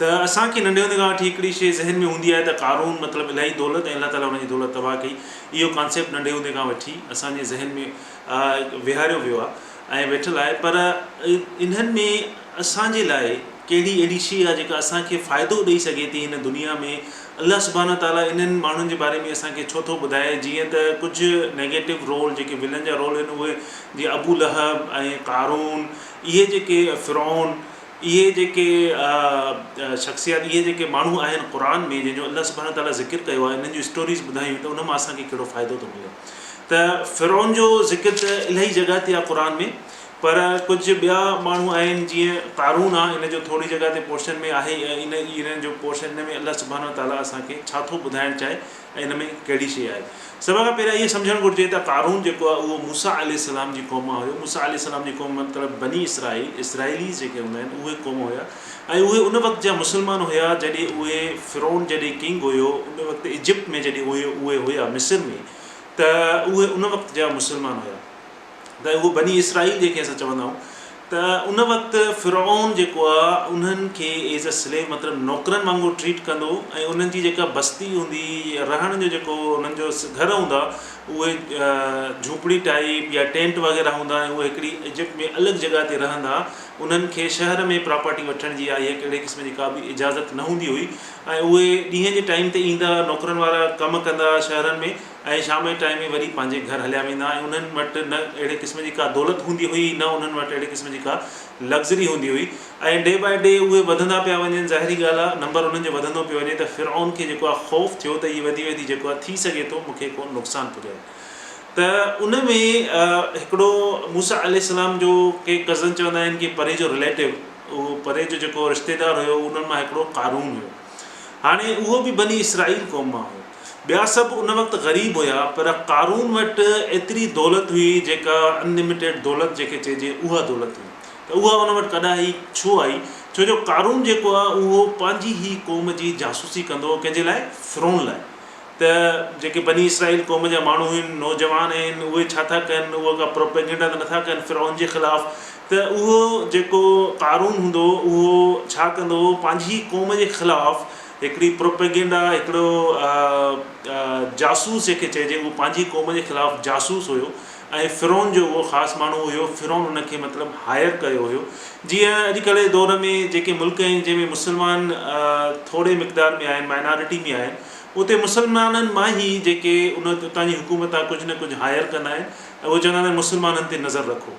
ته اسان کي ننڍي هوندي کان وٺي هڪڙي شيء ذهن ۾ هوندي آهي ته قارون مطلب الاهي دولت ۽ الله تعاليٰ ان جي دولت تباهه ڪئي اهو ڪانسيپٽ ننڍي هوندي کان وٺي اسان جي ذهن ۾ ويهاريو ويو آهي ۽ ويٺل آهي پر انهن ۾ اسان جي لاء ڪهڙي اهڙي شيء آهي جيڪا اسان کي فائدو ڏئي سگهي ٿي هن دنيا ۾ الله سبحانه تعاليٰ انهن ماڻهن جي باري ۾ اسان کي ڇو ٿو ٻڌائي جيئن ته ڪجهه نيگيٽو رول جيڪي ولن جا رول آهن اهي جيئن ابو لهب ۽ قارون اهي جيڪي فرعون اهي جيڪي شخصيات اهي جيڪي ماڻهو آهن قرآن ۾ جنهن جو الله سبحانه وتعالٰي ذڪر ڪيو آهي انهن جون اسٽوريز ٻڌايون ته ان مان اسان کي ڪهڙو فائدو ٿو ملي ته فرعون جو ذڪر ته الائي جڳهه تي آهي قرآن ۾ پر ڪجهه ٻيا ماڻهو آهن جيئن قارون آهي ان جو ٿوري جڳهه تي پورشن ۾ آهي ۽ ان انهن جو پورشن ان ۾ الله سبحانه وتعالٰي اسان کي ڇا ٿو ٻڌائڻ چاهي ۽ ان ۾ ڪهڙي شيء آهي؟ سڀ کان پهريان اهو سمجهڻ گهرجي ته قارون جيڪو آهي اهو موسيٰ عليه السلام جي قوم مان هيو. موسيٰ عليه السلام جي قوم جو مطلب بني اسرائيل، Israelis، جيڪي هوندا آهن اهي قوم هيا ۽ اهي ان وقت جا مسلمان هيا جڏهن اهي فرعون جڏهن ڪنگ هيو ان وقت ايجپٽ ۾ جڏهن اهي هيا مصر ۾ ته اهي ان وقت جا مسلمان هيا. ته اهو بني اسرائيل جنهن کي اسان چوندا آهيون ته ان وقت فرعون جيڪو آهي انهن کي ايز اي سليو مطلب نوڪرن وانگر ٽريٽ ڪندو ۽ انهن جي جيڪا بستي هوندي رهڻ جو جيڪو انهن جو گهر هوندا اهي جهوپڙي ٽائيپ يا ٽينٽ وغيره هوندا ۽ اهي هڪڙي ايجپٽ ۾ الڳ جڳهه تي رهندا انهن کي شهر ۾ پراپرٽي وٺڻ جي آهي ڪهڙي قسم جي ڪا به اجازت نه هوندي هئي ۽ اهي ڏينهن جي ٽائيم تي ايندا نوڪرن وارا ڪم ڪندا شهرن ۾ ۽ شام جي ٽائيم ۾ وري پنهنجي گهر هليا ويندا ۽ انهن وٽ نه اهڙي قسم جي ڪا دولت هوندي هئي نه انهن وٽ اهڙي قسم جي ڪا لگزري هوندي هئي ۽ ڊي بائي ڊي اهي وڌندا پيا وڃن ظاهري ڳالهه آهي نمبر انهن جو وڌندو پيو وڃي ته فرعون کي جيڪو آهي خوف ٿيو ته هي وڌي وڌي جيڪو آهي ٿي سگهي ٿو مون کي ڪو نقصان پڄائي ته ان ۾ هڪڙو موسيٰ عليه السلام جو ڪي ڪزن چوندا آهن ڪي پري جو رليٽو اهو پري جو جيڪو رشتيدار هيو انهن مان هڪڙو قارون هيو هاڻي اهو به بني اسرائيل قوم مان هيو ٻيا سڀ ان وقت غريب هيا پر قارون وٽ ايتري دولت هئي جيڪا Unlimited دولت جيڪي چئجي اها دولت هئي ته اها ان وٽ ڪڏاهي ڇو آئي ڇو جو قارون جيڪو هو اهو پنهنجي هي قوم جي جاسوسي ڪندو هو ڪنهنجي لاء فرعون لاء ته جيڪي بني اسرائيل قوم جا ماڻهو هين نوجوان هين اهي ڇا ٿا ڪن اهو ڪا پروپيگنڊا ته نٿا ڪن فرعون جي خلاف ته اهو جيڪو قارون هوندو هو اهو ڇا ڪندو هو پنهنجي هي قوم جي خلاف هڪڙي پروپيگنڊا هڪڙو جاسوس جنهن کي چئجي اهو پنهنجي قوم جي خلاف جاسوس هيو ۽ فرعون جو اهو خاص ماڻهو هيو فرعون ان کي مطلب هائير ڪيو هيو جيئن اڄ ڪلهه جي دور ۾ جيڪي ملڪ آهن جنهن ۾ مسلمان ٿوري مقدار ۾ آهن مائنارٽي ۾ آهن اتي مسلمانن مان هي جيڪي ان اتان جي حڪومت آهي ڪجهه نه ڪجهه هائير ڪندا آهن ۽ اهو چوندا آهن مسلمانن تي نظر رکو.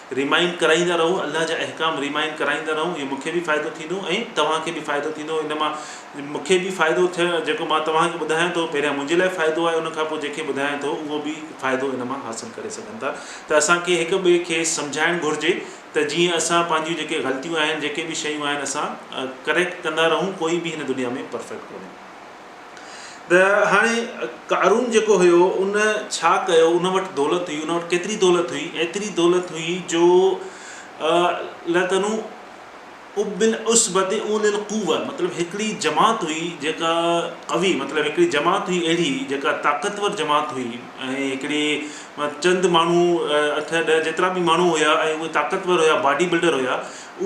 ريمائنڊ ڪرائيندا رهو الله جا احڪام ريمائنڊ ڪرائيندا رهو اهو مونکي به فائدو ٿيندو ۽ توهان کي به فائدو ٿيندو ان مان مونکي به فائدو ٿيو جيڪو مان توهان کي ٻڌايان ٿو پهريان منهنجي لاء فائدو آهي ان کان پوء جيڪي ٻڌايان ٿو اهو به فائدو ان مان حاصل ڪري سگهن ٿا ته اسان کي هڪ ٻئي کي سمجهائڻ گهرجي ته جيئن اسان پنهنجيون جيڪي غلطيون آهن جيڪي به شيون آهن اسان ڪريڪٽ ڪندا رهون ڪوئي به هن دنيا ۾ پرفيڪٽ ڪونهي. ته هاڻي قارون جيڪو هيو ان ڇا ڪيو ان وٽ دولت هئي ان وٽ ڪيتري دولت هئي ايتري دولت هئي جو لتنو ابل عصبت اول القوه مطلب هڪڙي جماعت هئي جيڪا قوي مطلب هڪڙي جماعت هئي اهڙي جيڪا طاقتور جماعت هئي ۽ هڪڙي چند ماڻهو اٺ ڏهه جيترا به ماڻهو هيا ۽ اهي طاقتور هيا باڊي بلڊر هيا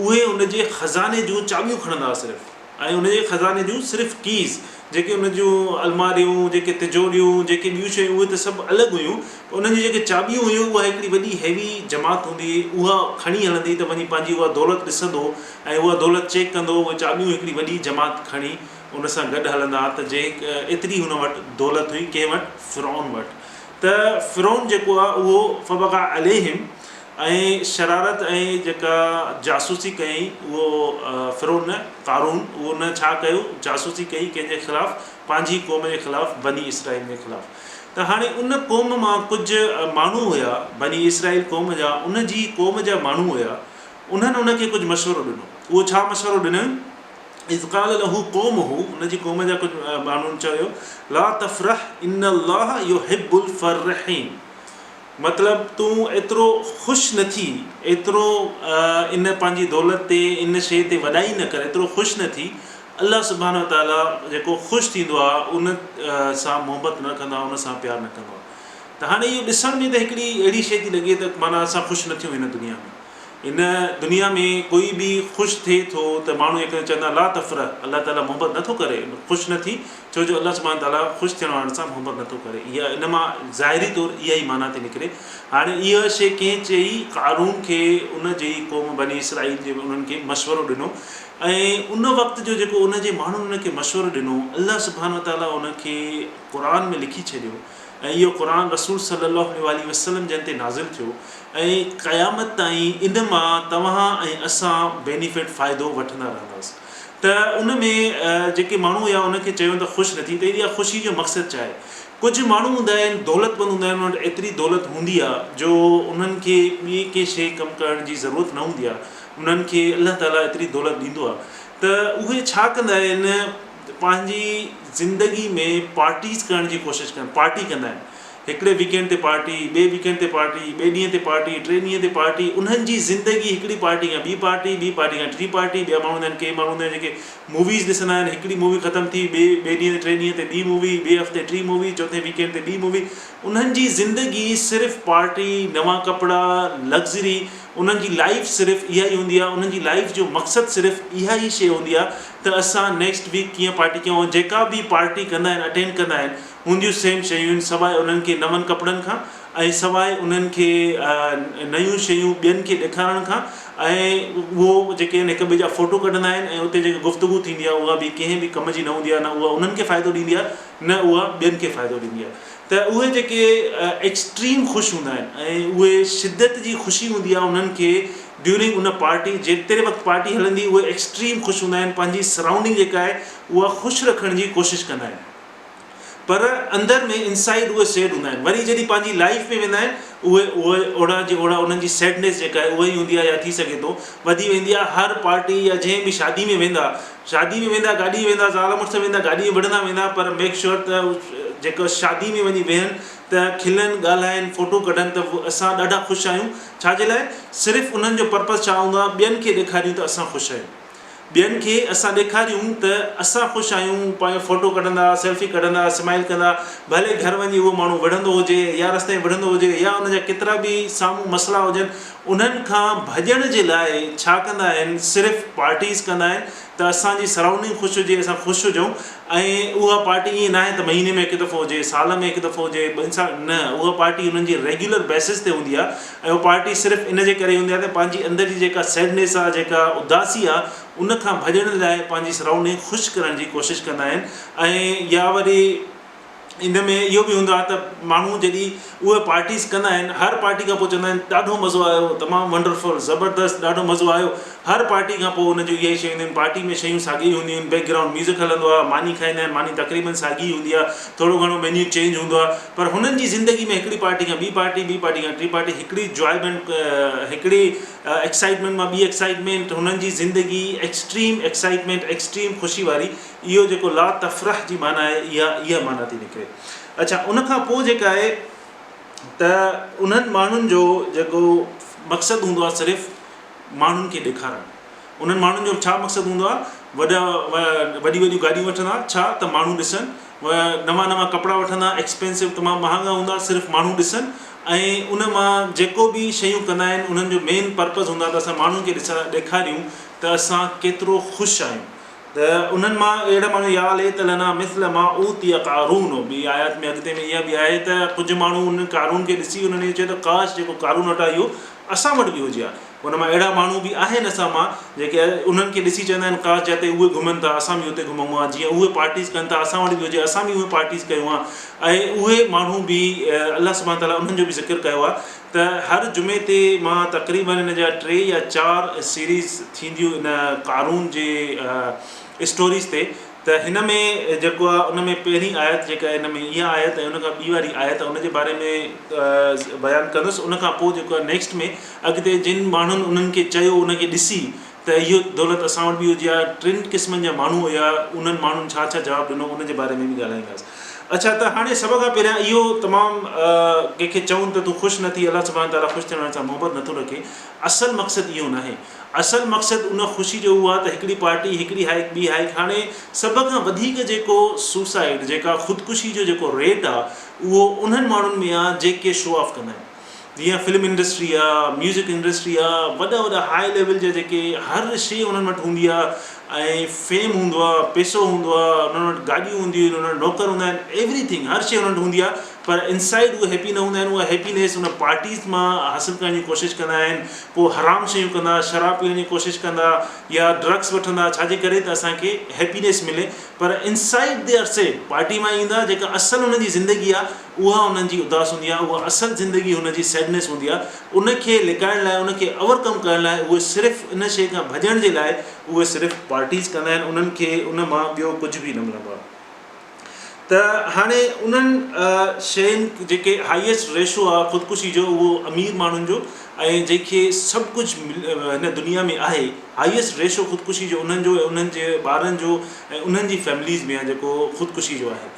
اهي ان جي خزاني جون چاٻيون کڻندا صرف ۽ ان جي خزاني جون صرف ڪيز، جيڪي ان جون الماريون، جيڪي تجوريون، جيڪي ٻيون شيون اهي ته سڀ الڳ هيون پر انهن جون جيڪي چاٻيون هيون اها هڪڙي وڏي هيوي جماعت هوندي هئي اها کڻي هلندي ته وڃي پنهنجي اها دولت ڏسندو ۽ اها دولت چيڪ ڪندو اهي چاٻيون هڪڙي وڏي جماعت کڻي ان سان گڏ هلندا ها ته جي ايتري هن وٽ دولت هئي ڪنهن وٽ فرعون وٽ ته فرعون جيڪو آهي اهو فبغا عليهم ۽ شرارت ۽ جيڪا جاسوسي ڪيائين اهو فرعون نه قارون اهو نه ڇا ڪيو جاسوسي ڪئي ڪنهن جي خلاف پنهنجي قوم جي خلاف بني اسرائيل جي خلاف ته هاڻي ان قوم مان ڪجهه ماڻهو هيا بني اسرائيل قوم جا ان جي قوم جا ماڻهو هيا انهن ان کي ڪجهه مشورو ڏنو اهو ڇا مشورو ڏنن اذ قال له قومه ان جي قوم جا ڪجهه ماڻهن چيو لا تفرح ان الله يحب الفرحين مطلب تون ايترو خوش نه ٿي، ايترو ان پنهنجي دولت تي، ان شيء تي وڏائي نه ڪر، ايترو خوش نه ٿي. الله سبحانه وتعاليٰ جيڪو خوش ٿيندو آهي، ان سان محبت نه رکندو آهي، ان سان پيار نه ڪندو آهي. ته هاڻي اهو ڏسڻ ۾ ته هڪڙي اهڙي شيء ٿي لڳي ته معنيٰ اسان خوش نه ٿيون هن دنيا ۾. هن دنيا ۾ ڪوئي به خوش ٿئي ٿو ته ماڻهو هڪ ٻئي کي چوندا لا تفرح الله تعاليٰ محبت نه ٿو ڪري خوش نه ٿي ڇو جو الله سبحانه تعاليٰ خوش ٿيڻ وارن سان محبت نه ٿو ڪري اها ان مان ظاهري طور اها ئي معنيٰ ٿي نڪري هاڻي اها شيء ڪنهن چئي قارون کي ان جي قوم بني اسرائيل جي انهن کي مشورو ڏنو ۽ ان وقت جو جيڪو ان جي ماڻهن ان کي مشورو ڏنو الله سبحانه تعاليٰ ان کي قرآن ۾ لکي ڇڏيو. ۽ اهو قرآن رسول صلّي اللّٰه عليه واٰله وسلّم جن تي نازل ٿيو ۽ قيامت تائين ان مان توهان ۽ اسان بينيفٽ، فائدو، وٺندا رهنداس ته ان ۾ جيڪي ماڻهو يا ان کي چيون ته خوش نه ٿي ته اها خوشي جو مقصد ڇا آهي؟ ڪجهه ماڻهو هوندا آهن دولتمند هوندا آهن انهن وٽ ايتري دولت هوندي آهي جو انهن کي ٻي ڪي شيء ڪم ڪرڻ جي ضرورت نه هوندي آهي انهن کي الله تعالٰي ايتري دولت ڏيندو آهي ته اهي ڇا ڪندا آهن؟ ته پنهنجي زندگي ۾ پارٽيز ڪرڻ جي ڪوشش ڪن پارٽي ڪندا آهن هڪڙي ويڪينڊ تي پارٽي ٻئي ويڪينڊ تي پارٽي ٻئي ڏينهن تي پارٽي ٽئي ڏينهن تي پارٽي انهن جي زندگي هڪڙي پارٽي کان ٻي پارٽي ٻي پارٽي کان ٽي پارٽي ٻيا ماڻهو هوندا آهن ڪي ماڻهو هوندا آهن جيڪي موويز ڏسندا آهن هڪڙي مووي ختم ٿي ٻئي ٻئي ڏينهن تي ٽئي ڏينهن تي ٻي مووي ٻئي هفتي ٽي مووي چوٿين ويڪينڊ تي ٻي مووي انهن جي زندگي صرف پارٽي نوان ڪپڙا لگزري انهن جي لائيف صرف اها ئي هوندي آهي انهن جي لائيف جو مقصد صرف اها ئي شيء هوندي آهي ته اسان نيڪسٽ ويڪ ڪيئن پارٽي ڪيون جيڪا به پارٽي ڪندا آهن اٽينڊ ڪندا آهن هونديون سيم شيون آهن سواء انهن کي نون ڪپڙن کان ۽ سواء انهن کي نيون شيون ٻين کي ڏيکارڻ کان ۽ اهو جيڪي آهن هڪ ٻئي جا فوٽو ڪڍندا آهن ۽ اتي جيڪي گفتگو ٿيندي آهي اها به ڪنهن به ڪم جي نه هوندي آهي نه اها انهن کي فائدو ڏيندي آهي نه اها ٻين کي فائدو ڏيندي آهي ته اهي جيڪي ايڪسٽريم خوش هوندا آهن ۽ اهي شدت جي خوشي هوندي آهي انهن کي ڊيورنگ ان پارٽي جيتري وقت پارٽي هلندي اهي ايڪسٽريم خوش هوندا آهن پنهنجي سرائونڊنگ جيڪا آهي اها خوش رکڻ جي ڪوشش ڪندا آهن پر اندر ۾ انسائيڊ اهي سيڊ هوندا آهن وري جڏهن پنهنجي لائيف ۾ ويندا آهن اهي اهي اوڙا جي اوڙا انهن جي سيڊنيس جيڪا آهي اهي ئي هوندي آهي يا ٿي سگهي ٿو وڌي ويندي آهي هر پارٽي يا جنهن به شادي ۾ ويندا شادي ۾ ويندا گاڏي ۾ ويندا زال مڙس ويندا گاڏي ۾ وڙهندا ويندا پر ميڪ شيور ته جيڪا شادي ۾ وڃي ويهن ته کلن ڳالهائن فوٽو ڪڍن ته اسان ڏاڍا خوش آهيون ڇا جي لاء؟ صرف انهن جو پرپز ڇا هوندو آهي؟ ٻين کي ڏيکاريون ته اسان خوش آهيون. ٻين کي اسان ڏيکاريون ته اسان خوش آهيون، پنهنجو فوٽو ڪڍندا، سيلفي ڪڍندا، اسمائيل ڪندا، ڀلي گهر وڃي اهو ماڻهو وڙهندو هجي يا رستي ۾ وڙهندو هجي يا ان جا ڪيترا به سامهون مسئلا هجن انهن کان ڀڄڻ جي لاء ڇا ڪندا آهن صرف پارٽيز ڪندا آهن ته اسان جي سرائونڊنگ خوش هجي، اسان خوش هجون ۽ اها پارٽي ائين ناهي ته مهيني ۾ هڪ دفعو هجي، سال ۾ هڪ دفعو هجي، ٻن سال نه اها پارٽي انهن جي ريگيولر بيسز تي هوندي آهي ۽ اها پارٽي صرف ان جي ڪري هوندي آهي ته پنهنجي اندر جي جيڪا سيڊنيس آهي جيڪا اداسي آهي ان کان ڀڄڻ لاء پنهنجي سرائونڊنگ خوش ڪرڻ جي ڪوشش ڪندا آهن ۽ يا وري ان ۾ اهو به هوندو آهي ته ماڻهو جڏهن اهي پارٽيز ڪندا آهن هر پارٽي کان پوء چوندا آهن ڏاڍو مزو آيو تمام ونڊرفل زبردست ڏاڍو مزو آيو هر پارٽي کان پوء ان جون اهي شيون هونديون آهن پارٽي ۾ شيون ساڳيون ئي هونديون آهن بيڪ گرائونڊ ميوزڪ هلندو آهي ماني کائندا آهن ماني تقريبن ساڳي ئي هوندي آهي ٿورو گهڻو مينيو چينج هوندو آهي پر هنن جي زندگي ۾ هڪڙي پارٽي کان ٻي پارٽي ٻي پارٽي کان ٽي پارٽي هڪڙي جوائيمينٽ هڪڙي ايڪسائيٽمينٽ مان ٻي ايڪسائيٽمينٽ هنن جي زندگي ايڪسٽريم ايڪسائيٽمينٽ ايڪسٽريم خوشي واري اهو جيڪو لا تفرح جي معنيٰ آهي اها اها معنيٰ ٿي نڪري. اڇا ان کان پوء جيڪا آهي ته انهن ماڻهن جو جيڪو مقصد هوندو آهي صرف ماڻهن کي ڏيکارڻ انهن ماڻهن جو ڇا مقصد هوندو آهي وڏا وڏيون وڏيون گاڏيون وٺندا ڇا ته ماڻهو ڏسن نوان نوان ڪپڙا وٺندا ايڪسپينسو تمام مهانگا هوندا صرف ماڻهو ڏسن ۽ ان مان جيڪو به شيون ڪندا آهن انهن جو مين پرپز هوندا ته اسان ماڻهن کي ڏسا ڏيکاريون ته اسان ڪيترو خوش آهيون ته انهن مان اهڙا ماڻهو يا ليت لنا مثل ما اوتي قارون ٻي آيات ۾ اڳتي ۾ اها به آهي ته ڪجهه ماڻهو انهن قارون کي ڏسي انهن اهو چيو ته ڪاش جيڪو قارون وٽ آهي اهو اسان وٽ به هجي ها انهن مان اهڙا ماڻهو به آهن اسان مان جيڪي انهن کي ڏسي چوندا آهن ڪاش جتي اهي گهمن ٿا اسان به اتي گهمون ها جيئن اهي پارٽيز ڪن ٿا اسان وٽ به هجي اسان به اهي پارٽيز ڪيون ها ۽ اهي ماڻهو به الله سبحانه تعاليٰ انهن جو به ذڪر ڪيو آهي ته هر جمعي تي مان تقريبن ان جا ٽي يا چار سيريز ٿينديون ان قارون جي اسٽوريز تي ته هن ۾ جيڪو آ ان ۾ پهرين آيت جيڪا ان ۾ اها آيت ۽ ان کان ٻي واري آيت ان جي باري ۾ بيان ڪندس ان کان پوء جيڪو آ نيڪسٽ ۾ اڳتي جن ماڻهن انهن کي چيو ان کي ڏسي ته اهو دولت اسان وٽ به هجي ها ٽن قسمن جا ماڻهو هيا انهن ماڻهن ڇا ڇا جواب ڏنو ان جي باري ۾ به ڳالهائينداس اڇا ته هاڻي سڀ کان پهريان اهو تمام ڪنهن کي چون ته تون خوش نه ٿي الله سبحانه تعالي خوش ٿيڻ وارن سان محبت نه ٿو رکي اصل مقصد اهو ناهي اصل مقصد ان خوشي جو اهو آهي ته هڪڙي پارٽي هڪڙي هائيڪ ٻي هائيڪ هاڻي سڀ کان وڌيڪ جيڪو سوسائيڊ جيڪا خودڪشي جو جيڪو ريٽ آهي اهو انهن ماڻهن ۾ آهي جيڪي شو آف ڪندا آهن. جيئن فلم انڊسٽري آ، ميوزڪ انڊسٽري آ، وڏا وڏا هاء ليول جا جيڪي هر شي انهن وٽ هوندي آ ۽ فيم هوندو آ، پيسو هوندو آ، انهن وٽ گاڏيون هونديون آهن، انهن وٽ نوڪر هوندا آهن، ايوري ٿنگ هر شي انهن وٽ هوندي آ پر انسائيڊ اهي هيپي نه هوندا آهن، اها هيپينيس ان پارٽيز مان حاصل ڪرڻ جي ڪوشش ڪندا آهن، پوء حرام شيون ڪندا، شراب پيئڻ جي ڪوشش ڪندا يا ڊرگس وٺندا ڇا جي ڪري ته اسان کي هيپينيس ملي پر inside they are safe, party مان ايندا جيڪا اصل انهن جي زندگي آ اها انهن جي اداس هوندي آهي، اها اصل زندگي هن جي Sadness هوندي آهي، ان کي لڪائڻ لاء، ان کي Over Come ڪرڻ لاء اهي صرف ان شيء کان ڀڄڻ جي لاء اهي صرف Parties ڪندا آهن، انهن کي ان مان ٻيو ڪجهه به نه ملندو آهي. ته هاڻي انهن شين جيڪي Highest Ratio آهي خودڪشي جو اهو امير ماڻهن جو ۽ جنهن کي سڀ ڪجهه هن دنيا ۾ آهي Highest Ratio خودڪشي جو انهن جو ۽ انهن جي ٻارن جو ۽ انهن جي Families ۾ آهي جيڪو خودڪشي جو آهي.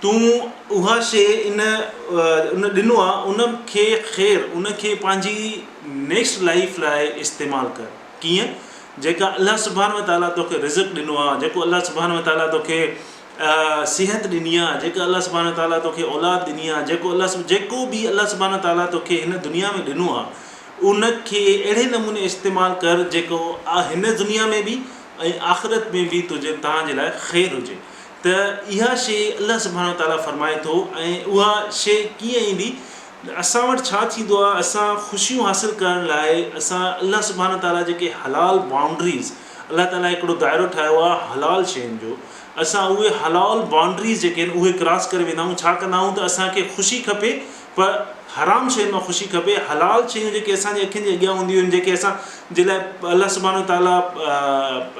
تون اها شيء ان ان ڏنو آ ان کي خير ان کي پنهنجي نيڪسٽ لائيف لاء استعمال ڪر ڪيئن جيڪا الله سبحانه وتعالي توکي رزق ڏنو آ جيڪو الله سبحانه وتعالي توکي صحت ڏني آ جيڪا الله سبحانه وتعالي توکي اولاد ڏني آ جيڪو الله سب جيڪو به الله سبحانه وتعالي توکي هن دنيا ۾ ڏنو آ ان کي اهڙي نموني استعمال ڪر جيڪو هن دنيا ۾ به ۽ آخرت ۾ به تنهنجي تنهنجي لاء خير هجي ته اها شيء الله سبحانه وتعاليٰ فرمائي ٿو ۽ اها شيء ڪيئن ايندي؟ اسان وٽ ڇا ٿيندو آهي؟ اسان خوشيون حاصل ڪرڻ لاء اسان الله سبحانه وتعاليٰ جيڪي حلال بائونڊريز الله تعاليٰ هڪڙو دائرو ٺاهيو آهي حلال شين جو اسان اهي حلال بائونڊريز جيڪي آهن اهي ڪراس ڪري ويندا آهيون ڇا ڪندا آهيون ته اسان کي خوشي کپي پر حرام شين مان خوشي کپي، حلال شيون جيڪي اسان جي اکين جي اڳيان هونديون آهن جيڪي اسان جي لاء الله سبحانه وتعاليٰ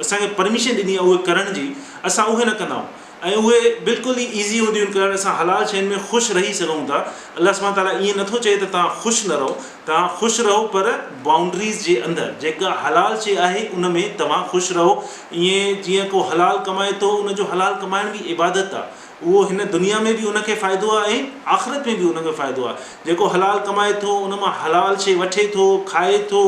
اسان کي پرميشن ڏني آهي اهي ڪرڻ جي اسان اهي نه ڪندا آهيون ۽ اهي بلڪل ئي ايزي هونديون آهن ڪرڻ اسان حلال شين ۾ خوش رهي سگهون ٿا الله سبحانه وتعاليٰ ائين نٿو چئي ته توهان خوش نه رهو توهان خوش رهو پر بائونڊريز جي اندر جيڪا حلال شي آهي ان ۾ توهان خوش رهو ائين جيئن ڪو حلال ڪمائي ٿو ان جو حلال ڪمائڻ به عبادت آهي اهو هن دنيا ۾ به ان کي فائدو آهي ۽ آخرت ۾ به ان کي فائدو آهي. جيڪو حلال ڪمائي ٿو، ان مان حلال شيء وٺي ٿو، کائي ٿو،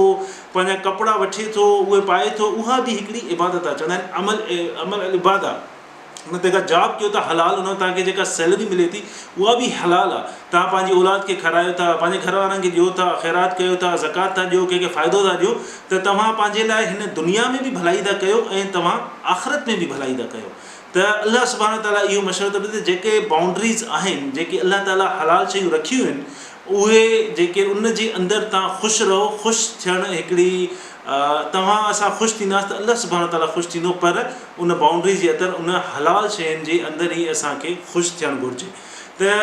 پنهنجا ڪپڙا وٺي ٿو، اهي پائي ٿو، اها به هڪڙي عبادت آهي. چوندا آهن عمل عمل العباده. ان تي ڪا جاب ڪيو ٿا حلال، ان مان توهان کي جيڪا سيلري ملي ٿي، اها به حلال آهي. توهان پنهنجي اولاد کي کارايو ٿا، پنهنجي گهر وارن کي ڏيو ٿا، خيرات ڪيو ٿا، زڪوات ٿا ڏيو، ڪنهن کي فائدو ٿا ڏيو، ته توهان پنهنجي لاء هن دنيا ۾ به ڀلائي ٿا ڪيو ۽ توهان آخرت ۾ به ڀلائي ٿا ڪيو. ته الله سبحانه وتعاليٰ اهو مشورو ٿو ڏي ته جيڪي بائونڊريز آهن جيڪي الله تعاليٰ حلال شيون رکيون آهن اهي جيڪي ان جي اندر توهان خوش رهو خوش ٿيڻ هڪڙي توهان اسان خوش ٿينداس ته الله سبحانه وتعاليٰ خوش ٿيندو پر ان بائونڊريز جي اتر ان حلال شين جي اندر ئي اسان کي خوش ٿيڻ گهرجي ته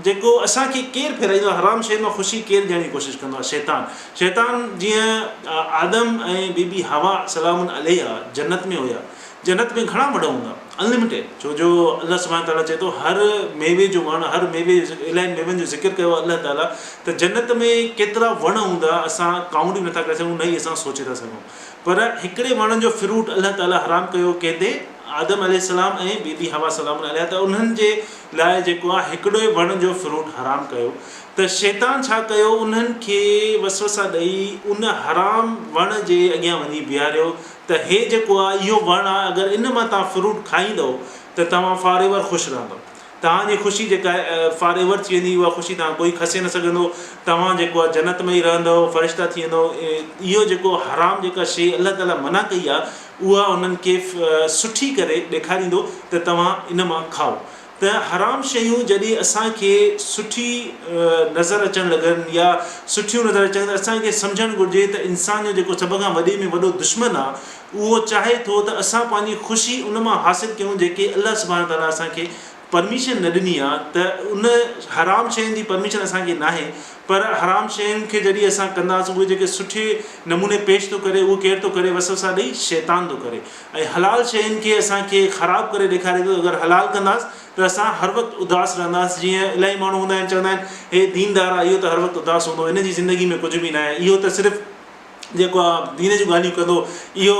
جيڪو اسان کي ڪير ڦيرائيندو آهي حرام شين مان خوشي ڪير ڏيڻ جي ڪوشش ڪندو آهي شيطان شيطان جيئن آدم ۽ بي بي حوا سلام عليها جنت ۾ هيا جنت ۾ گهڻا وڻ هوندا Unlimited ڇو جو الله سبحانه تعاليٰ چئي ٿو هر ميوي جو وڻ هر ميوي جو ذڪر الائن ميون جو ذڪر ڪيو آهي الله تعاليٰ ته جنت ۾ ڪيترا وڻ هوندا اسان ڪائونٽ ئي نٿا ڪري سگهون نه ئي اسان سوچي ٿا سگهون پر هڪڙي وڻ جو فروٽ الله تعاليٰ حرام ڪيو ڪنهن تي آدم عليه السلام ۽ بي بي حوا سلام الله عليها ته انهن جي لاء جيڪو آهي هڪڙو ئي وڻ جو فروٽ حرام ڪيو ته شيطان ڇا ڪيو انهن کي وسوسا ڏئي ان حرام وڻ جي اڳيان وڃي بيهاريو ته هي جيڪو آ اهو وڻ آ اگر ان مان توهان فروٽ کائيندؤ ته توهان فار ايور خوش رهندؤ توهان جي خوشي جيڪا آهي فار ايور ٿي ويندي اها خوشي توهان ڪوئي کسي نه سگهندو توهان جيڪو آ جنت ۾ ئي رهندؤ فرشتا ٿي ويندؤ اهو جيڪو حرام جيڪا شي الله تعالي منع ڪئي آ اها انهن کي سٺي ڪري ڏيکاريندو ته توهان ان مان کائو ته حرام شيون جڏهن اسان کي سٺي نظر اچڻ لڳن يا سٺيون نظر اچن ته اسان کي سمجهڻ گهرجي ته انسان جو جيڪو سڀ کان وڏي ۾ وڏو دشمن آهي اهو چاهي ٿو ته اسان پنهنجي خوشي ان مان حاصل ڪيون جيڪي الله سبحانه تعاليٰ اسان کي پرميشن نه ڏني آهي ته ان حرام شين جي پرميشن اسان کي ناهي پر حرام شين کي جڏهن اسان ڪنداسون اهي جيڪي سٺي نموني پيش ٿو ڪري اهو ڪير ٿو ڪري وسوسا ڏئي شيطان ٿو ڪري. ۽ حلال شين کي اسان کي خراب ڪري ڏيکاري ٿو ته اگر حلال ڪنداس ته اسان هر وقت اداس رهنداس جيئن الائي ماڻهو هوندا آهن چوندا آهن هي دين دار آهي اهو ته هر وقت اداس هوندو هن جي زندگي ۾ ڪجهه به نه آهي اهو ته صرف جيڪو آ دين جون ڳالهيون ڪندو اهو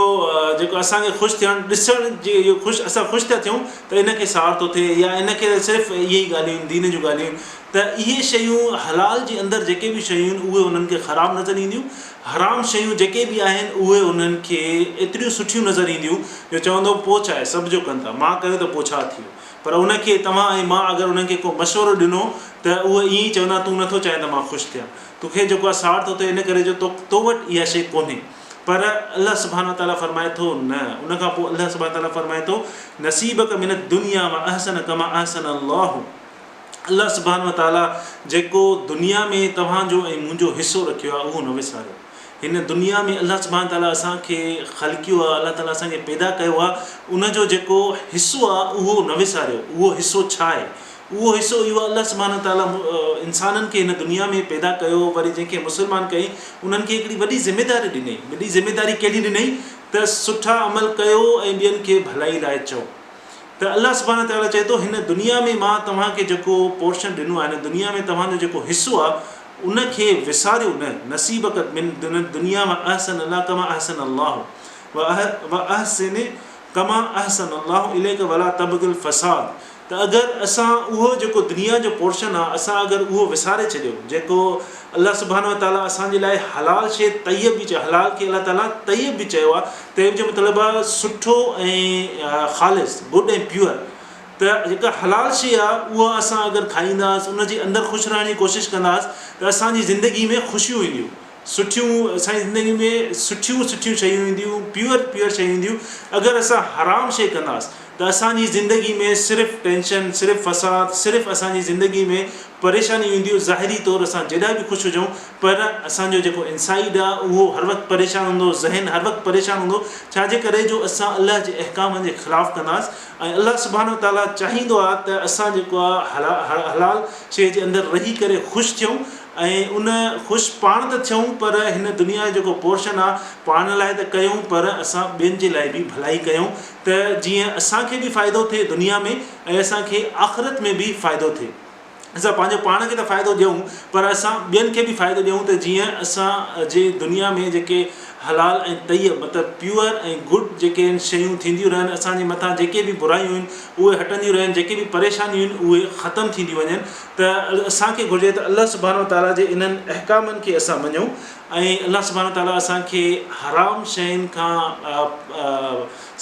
جيڪو اسان کي خوش ٿيڻ ڏسڻ جي اهو خوش اسان خوش ٿا ٿيون ته ان کي سار ٿو ٿئي يا ان کي صرف اهي ئي ڳالهيون دين جون ڳالهيون ته اهي شيون حلال جي اندر جيڪي به شيون اهي انهن کي خراب نظر اينديون حرام شيون جيڪي به آهن اهي انهن کي ايتريون سٺيون نظر اينديون جو چوندو پوچ آهي سڀ جو ڪن ٿا مان ڪيو ته پوء ڇا ٿي ويو پر ان کي توهان ۽ مان اگر انهن کي ڪو مشورو ڏنو ته اهي ائين ئي چوندا تون نٿو چاهين ته مان خوش ٿيان تو کي جيڪو آهي ساڙ ٿو ٿئي ان ڪري جو تو وٽ اها شيء ڪونهي پر الله سبحانه وتعاليٰ فرمائي ٿو نه ان کان پوء الله سبحانه وتعاليٰ فرمائي ٿو نصيبڪ من الدنيا واحسن ڪما احسن الله الله سبحانه وتعاليٰ جيڪو دنيا ۾ توهان جو ۽ منهنجو حصو رکيو آهي اهو نه وساريو هن دنيا ۾ الله سبحانه وتعاليٰ اسان کي خلقيو آهي الله تعاليٰ اسان کي پيدا ڪيو آهي ان جو جيڪو حصو آهي اهو نه وساريو اهو حصو ڇا آهي اهو حصو اهو آهي الله سبحانه وتعاليٰ انسانن کي هن دنيا ۾ پيدا ڪيو وري جنهن کي مسلمان ڪيائين انهن کي هڪڙي وڏي ذميداري ڏنائين وڏي ذميداري ڪهڙي ڏنائين ته سٺا عمل ڪيو ۽ ٻين کي ڀلائي لاء چئو ته الله سبحانه تعاليٰ چئي ٿو هن دنيا ۾ مان توهان کي جيڪو پورشن ڏنو آهي هن دنيا ۾ توهان جو جيڪو حصو آهي ان کي وساريو نه نصيبڪ من دنيا واحسن الا ڪما احسن الله واحسن ڪما احسن الله اليک ولا تبغ الفساد ته اگر اسان اهو جيڪو دنيا جو پورشن آهي اسان اگر اهو وساري ڇڏيو جيڪو الله سبحانه تعاليٰ اسان جي لاء حلال شيء طيب به چئي حلال کي الله تعاليٰ طيب به چيو آهي تيب جو مطلب آ سٺو ۽ خالص Good ۽ Pure ته جيڪا حلال شيء آ اها اسان اگر کائينداس ان جي اندر خوش رهڻ جي ڪوشش ڪنداس ته اسان جي زندگي ۾ خوشيون اينديون سٺيون اسان جي زندگي ۾ سٺيون سٺيون شيون اينديون Pure Pure شيون اينديون اگر اسان حرام شيء ڪنداس ته اسان جي زندگي ۾ صرف ٽينشن، صرف فساد، صرف اسان جي زندگي ۾ پريشانيون اينديون، ظاهري طور اسان جيڏا به خوش هجون پر اسان جو جيڪو انسائيڊ آ اهو هر وقت پريشان هوندو، ذهن هر وقت پريشان هوندو، ڇا جي ڪري جو اسان الله جي احڪامن جي خلاف ڪنداس ۽ الله سبحانه و تعاليٰ چاهيندو آ ته اسان جيڪو آ حلال شيء جي اندر رهي ڪري خوش ٿيون ۽ ان خوش پاڻ ته ٿيون پر هن دنيا جو جيڪو پورشن آ پاڻ لاء ته ڪيون پر اسان ٻين جي لاء به ڀلائي ڪيون ته جيئن اسان کي به فائدو ٿئي دنيا ۾ ۽ اسان کي آخرت ۾ به فائدو ٿئي. اسان پنهنجو پاڻ کي ته فائدو ڏيون پر اسان ٻين کي به فائدو ڏيون ته جيئن اسان جي دنيا ۾ جيڪي حلال ۽ طيب مطلب پيور ۽ گڊ جيڪي آهن شيون ٿينديون رهن اسان جي مٿان جيڪي به برايون آهن اهي هٽنديون رهن جيڪي به پريشانيون آهن اهي ختم ٿينديون وڃن ته اسان کي گهرجي ته الله سبحانه وتعاليٰ جي انهن احڪامن کي اسان مڃون ۽ الله سبحانه وتعاليٰ اسان کي حرام شين کان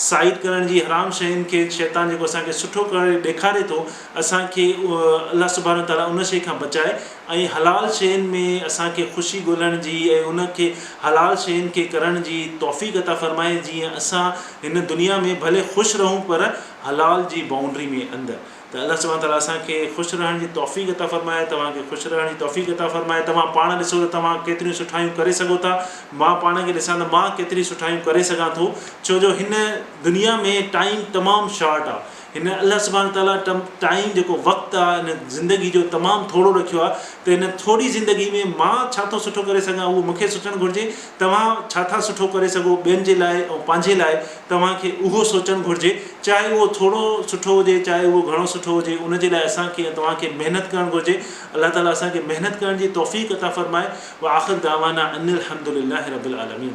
سائيڊ ڪرڻ جي حرام شين کي شيطان جيڪو اسان کي سٺو ڪري ڏيکاري ٿو اسان کي الله سبحانه وتعاليٰ ان شي کان بچائي ۽ حلال شين ۾ اسان کي خوشي ڳولڻ جي ۽ ان کي حلال شين کي ڪرڻ جي توفيق عطا فرمائي جيئن اسان هن دنيا ۾ ڀلي خوش رهون پر حلال جي بائونڊري ۾ اندر. ته الله سبحانه تعاليٰ اسان کي خوش رهڻ جي توفيق عطا فرمائي توهان کي خوش رهڻ جي توفيق عطا فرمائي توهان پاڻ ڏسو ته توهان ڪيتريون سٺايون ڪري سگهو ٿا مان پاڻ کي ڏسان ته مان ڪيتريون سٺايون ڪري سگهان ٿو ڇو جو هن دنيا ۾ ٽائيم تمام شارٽ آ هن الله سبحانه تعاليٰ ٽائيم جيڪو وقت آ هن زندگي جو تمام ٿورو رکيو آ ته هن ٿوري زندگي ۾ مان ڇا ٿو سٺو ڪري سگهان اهو مون کي سوچڻ گهرجي توهان ڇا ٿا سٺو ڪري سگهو ٻين جي لاء ۽ پنهنجي لاء توهان کي اهو سوچڻ گهرجي چاهي اهو ٿورو سٺو هجي چاهي اهو گهڻو سٺو هجي ان جي لاء اسان کي ۽ توهان کي محنت ڪرڻ گهرجي الله تعالي اسان کي محنت ڪرڻ جي توفيق عطا فرمائي واخر دعوانا ان الحمدلله رب العالمين.